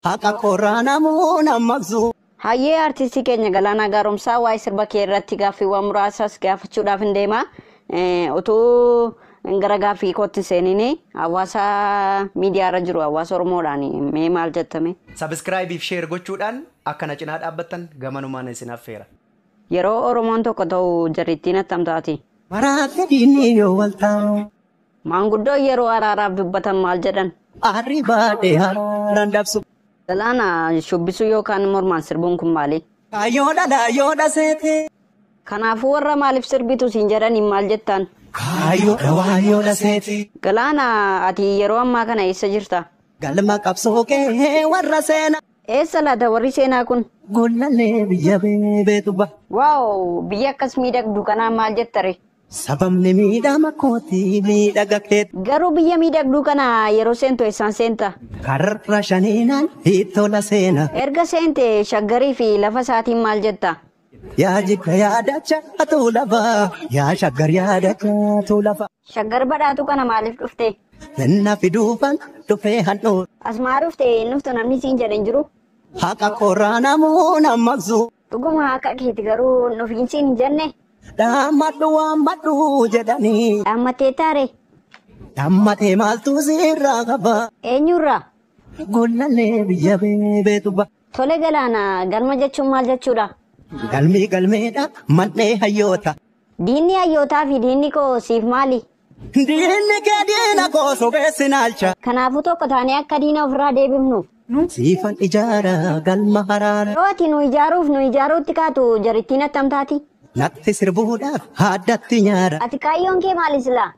Haqa qorraa namuu nan maqsu. Hayyee artistii keenya Galaanaa Gaaromsaa waa'ee sirba kee irratti gaaffiiwwan muraasas gaafachuudhaaf hin deema. Eh, Utuu gara gaaffii kootti hin seeniin hawaasa miidiyaa irra jiru hawaasa Oromoodhaan mee maal jettame? Sabiskiraayibii fi sheer gochuudhaan akka na cinaa dhaabbattan gamanumaan isin affeera. Yeroo Oromoon tokko ta'u jarrittiin attam taati? Maraatte diinni yoo wal taa'u. Maanguddoon yeroo araaraaf dubbatan maal jedhan? Aarri baadhee haaraan dabsu. Galaana shubbisuu yookaan mormaan sirbuun kun maali? Kaayyoo dhala yoo dhaseete. Kanaafuu warra maaliif sirbitu siin jedhaniin maal jettaan? Kaayyoo dhawaan yoo dhaseete. Galaana ati yeroo ammaa kana eessa jirta? Galma qabsoo kee warra seena. Eessa laata warri seenaa kun? Gollallee biyya beebeetu ba. Waaw biyya akkas miidhagdu kanaa maal jettare? Sababni miidhama kooti miidhaga keet. Garuu biyya miidhagduu kana yeroo seentu eessaan seenta? Karra shaniinaan hiittola seena. Erga seente shaggarii fi lafa isaatiin maal jetta? Yaa jidda yaa dacha atuu lafa. Yaa shaggar yaa dacha atuu lafa. Shaggar badhaatuu kana maaliif dhufte? Kenna fiduufan dhufee handhuura. As maa dhufte hin dhuftu namni siin jedhe hin jiru? Haqa qorraa namuun ammaqsu. Dhuguma haqa keeti garuu nuuf jinsiin hin jenne. Dhaammadhu waammadhu jedhanii. Dhaammattee taare. Dhaammatee maaltu sirraa qaba. Eenyurraa? Gollallee biyya beebeetu ba. Tole galaana galma jechuun maal jechuudha? Galmii galmeedha mannee hayyoota. Diinni hayyootaa fi diinni koo siif maali? Diinni kee diina koo sobeessi naalcha. Kanaafuu tokko taanee akka diina ofirraa deebifnuuf. Siifan ijaara galma haraara. Yoo ati nu ijaaruuf nu ijaaruutti kaatu jarittiin attam taati? Natti sirbuudhaaf haaddatti nyaara. Ati kaayyoon kee maali silaa?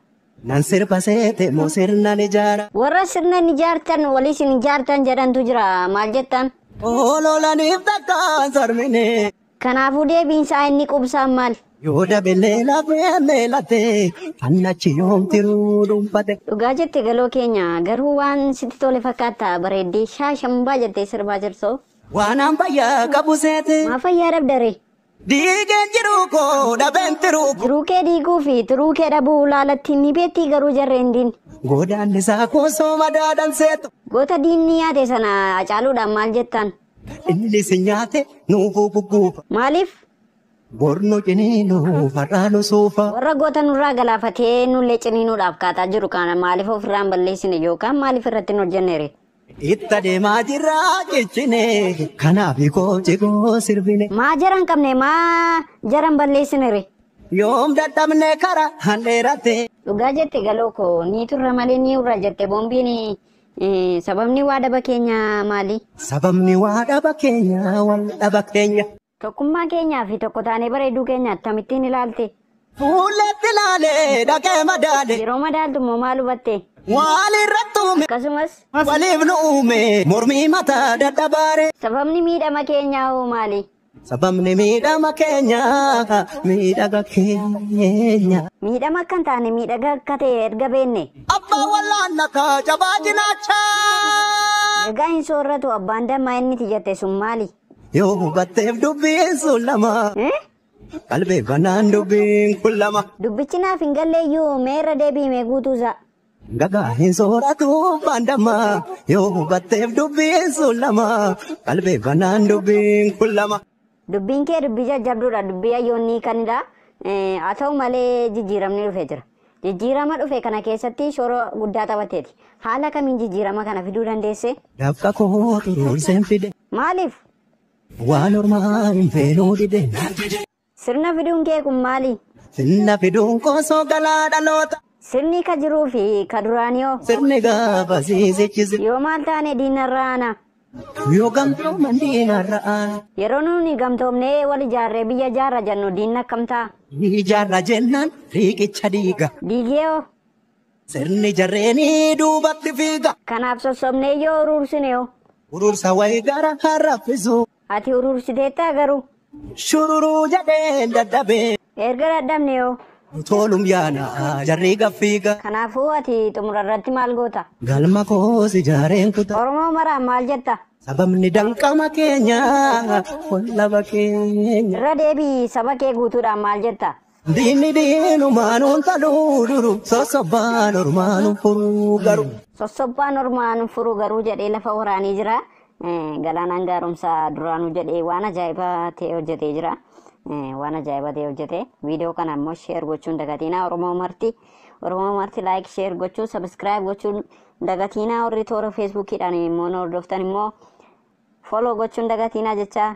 Nan sirba seete moo sirnan ijaara? Warra sirna hin ijaartan waliis hin ijaartan jedhantu jira maal jettan? Ololaniif takkaan sarmine. Kanaafuu deebiin isaa inni qubsaan maal? Yoo dabelee lafee leelatee annachi yoom tiruu dhuunfate. Dhugaa jette galoo keenya garuu waan sitti tole fakkaata bareeddii shaashambaa jettee sirbaa jirtu. Waanaan fayyaa qabu seete. Maa fayyaa dhabda ree? Diigeen jiruu koo dhabeen tiruu koo. Jiruu kee diiguu fi tiruu kee dhabuu laalatti ni beettii garuu jarreen diin. Godaannisaa koo sooma daadhan seetu. Goota diinni yaate sana Hacaaluudhaan maal jettaan? Inni si nyaate nuuf gugguufa. Maaliif? Bor nu ciniinuuf har'aa nu suufa. Warra goota nurraa galaafatee nullee ciniinuudhaaf kaataa jiru kana maaliif ofirraa hin balleessine yookaan maaliif irratti hin hojjennere? Itta deemaa jirra cichine. Kanaaf koo cigoo sirbine. Maa jara hin qabne maa jara hin balleessinere? Yoom dadhabne kara handheeratte. Dhugaa jette galoo koo ni turra malee ni urra jette boombiin Sababni waa dhaba keenya maali? Sababni waa dhaba keenya wal dhaba keenya. Tokkummaa keenyaa fi tokko taanee bareeduu keenya attamittiin ilaalte? Fuulleetti ilaalee dhaqee madaale. Yeroo madaaltu immoo maal hubatte? Waalirratti uume. Akkasumas. Waliif nu uume. Mormii mataa dadhabaare. Sababni miidhama keenyaa hoo maali? Sababni miidhama keenya miidhaga keenya. Miidhama akka hin taane miidhaga akka ta'e erga beenne. Abbaa wallaanna kaa jabaa cinaacha. Gagaa hin soorratu abbaan dammaa inni ti jette sun maali? Yoo hubatteef dubbiin sun lama. Eh? Qalbeeffannaan dubbiin kun lama. Dubbichi naaf hin galleeyyuu mee irra deebi'ime guutuusaa. Gagaa hin sooratu baandama yoo hubatteef dubbiin sun lama qalbeeffannaan dubbiin kun lama. Dubbiin kee dubbii jajjabduudha. Dubbii hayyoonni hiikanidha. Eh, Haa ta'u malee jijjiiramni dhufe jira. Jijjiirama dhufe kana keessatti shoora guddaa taphatteeti. Haala kamiin jijjiirama kana fiduu dandeesse? Dafqa koo turuurseen fide Maaliif? waan ormaa hin feenuu dide. Sirna fiduun kee kun maali? Sirna fiduun koo soo galaa dhaloota. Sirni ka jiruu fi ka duraanii hoo? Sirni gaafa siisichise. Yoo maal taane diinarra aana? Yoo gamtooman diinarra aana. Yeroo nuuni gamtoomnee wal ijaarree biyya ijaarra jennu diinni akkam ta'a? Ni ijaarra jennaan riiqicha diiga. Diigee hoo? Sirni jarreenii duubatti fiiga. Kanaaf sossobnee yoo uruursine hoo? Uruursa wayi gara har'a fisu. Ati urursiteettaa garuu? Shururuu jedheen dadhabee. Erga dadhabne hoo? Toolum yaana jarri gaffiiga. Kanaafuu ati xumura irratti maal goota? Galma koos ijaareen kuta. Oromoo maraan maal jetta? Sababni danqama keenya wallaba keenya. Irra deebi'i saba kee guutuudhaan maal jetta? Diinni diinumaa nuun taluu duru sossobbaan ormaa nu furuu garuu. Sossobbaan ormaa nu furuu garuu jedhee lafa waraanee jira. Galaanaan gaaromsaa duraanuu jedhee waan ajaa'ibaa ta'e hojjetee jira. Waan ajaa'ibaa ta'e hojjete. Viidiyoo kana immoo sheer gochuun dagatiinaa Oromoo marti. Oromoo marti laayik sheer gochuu sabiskiraayib gochuun dagatiinaa warri toora feesbuukiidhaan immoo nu hordoftan immoo fooloo gochuun dagatiinaa jechaa